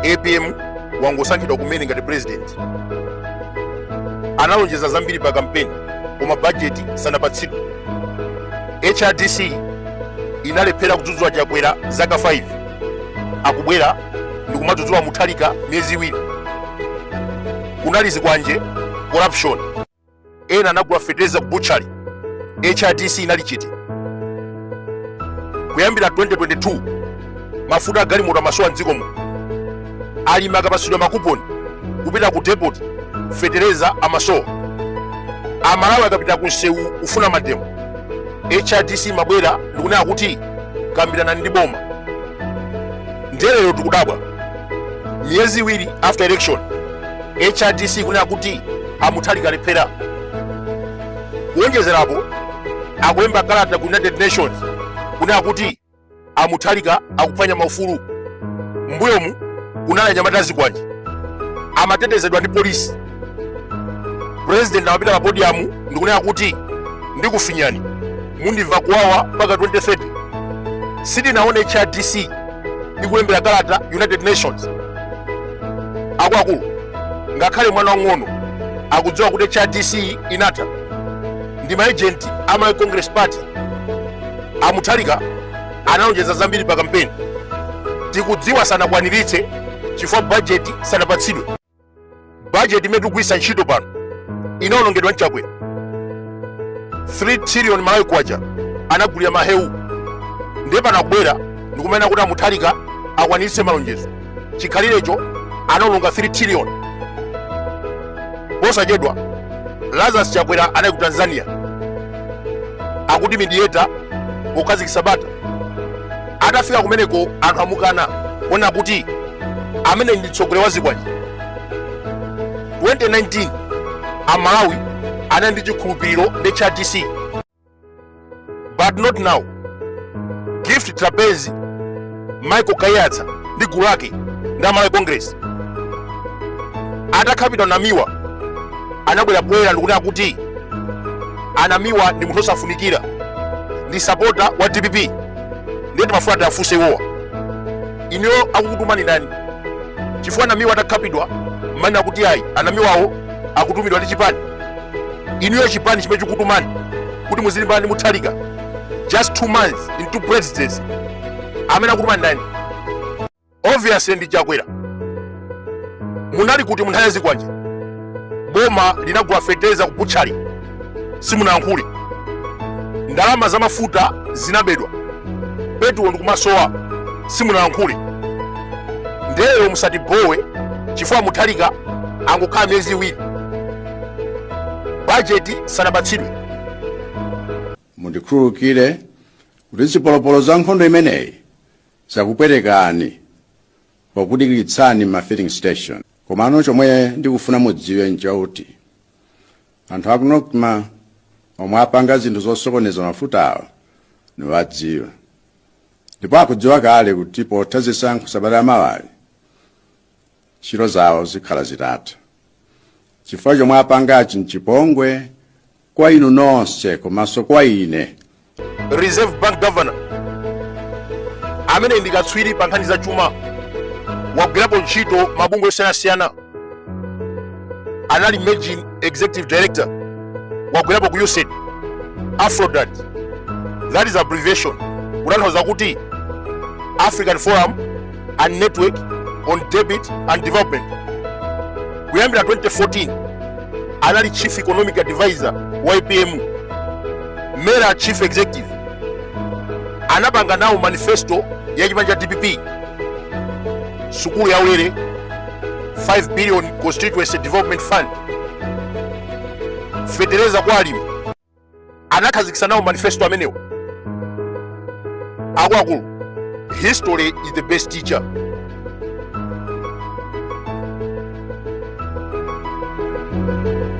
apm wangosankhidwa kumene ngati president analonjeza zambiri pa kampeni koma bajeti sanapatsidwe hrdc inalephera kudzudzula chakwera zaka 5 akubwera ndikumadzudzula mutharika miyezi iwiri kunali zikwanje corruption ena anagula fetereza ku butchery hrdc inali chete kuyambira 2022 mafuta agalimoto amasowa mdziko muno alimi akapatsidwa makuponi kupita ku depot fetereza amasowa amalawi akapita ku msewu kufuna mademo hrdc imabwera ndikunena kuti kambiranani ndi boma ndelero tikudabwa miyezi iwiri after election hrdc kunena kuti a mutharika alephera kuwonjezerapo akulemba kalata ku united nations kunena kuti a mutharika akuphwanya maufulu mbuyomu kunali anyamata azikwanje amatetezedwa ndi polisi president amapita pa podiyamu ndikunena kuti ndikufinyani mundimva kuwawa mpaka 2030 sitinaone hrdc ikulembera kalata united nations akuluakulu ngakhale mwana wang'ono akudziwa kuti hrdc inatha ndi maejenti a malawi congress party a mutharika analonjeza zambiri pa kampeni tikudziwa sanakwaniritse chifukwa bajeti sanapatsidwe bajeti imene tikugwiritsa ntchito pano inaonongedwa ndi chakwera 3 trillion malawi kwacha anagulira mahewu ndiye pano akubwera ndikumanena kuti a mutharika akwaniritse malonjezo chikhalirecho anaononga 3 trillion posachedwa lazarus chakwera anali ku tanzania akuti mediator pokhazikitsa bata atafika kumeneko anthu amukana kunena kuti ameneyu ndi mtsogoleri wa zikwanje 2019 amalawi anali ndi chikhulupiriro ndi hrdc but not now gift trapence michael kaiyatsa ndi gulu lake ndi a malawi congress atakhapidwa namiwa anabwera poyera ndikunena kuti anamiwa ndi munthu osafunikira ndi sapota wa dpp ndiye timafuna tiafunse iwowa inuyo akukutumani ndani chifukwa anamiwa atakhapidwa amanena kuti ayi anamiwawo akutumidwa ndi chipani inuyo chipani chimene chikutumani kuti muzilimbana ndi muthalika just two months into presidency amene akutumani ndani obviously ndi chakwera munali kuti munthawi yazikwanje boma linagula feteza ku butchali simunayankhule ndalama za mafuta zinabedwa petulo ndikumasowa simunayankhule ndeno musatibowe chifukwa muthalika angokhala miyezi iwiri bajeti sanapatsidwe mundikhululukire kuti zipolopolo za nkhondo imeneyi zakupwetekani pokudikiritsani m'ma filling station komano chomwe ndikufuna mudziwe nchakuti anthu aku nocma omwe apanga zinthu zosokoneza mafutawo nawadziwa ndipo akudziwa kale kuti potha zisankho sabata yamawayi ntchito zawo zikhala zitatha chifukwa chomwe apangachi nchipongwe kwa inu nonse komanso kwa ine reserve bank governor amene ndi katswiri pa nkhani za chuma wagwirapo ntchito m'mabungwe osiyanasiyana anali managing executive director wagwirapo ku usaid afrodat that is abbreviation kutanthauza kuti african forum and network on debt and development kuyambira 2014 anali chief economic advisor wa apm mera chief executive anapanga nawo manifesto ya chipani cha dpp sukulu ya ulere 5 billion constituency development fund fetereza kwa alimi anakhazikisa nawo manifesto amenewo akuluakulu history is the best teacher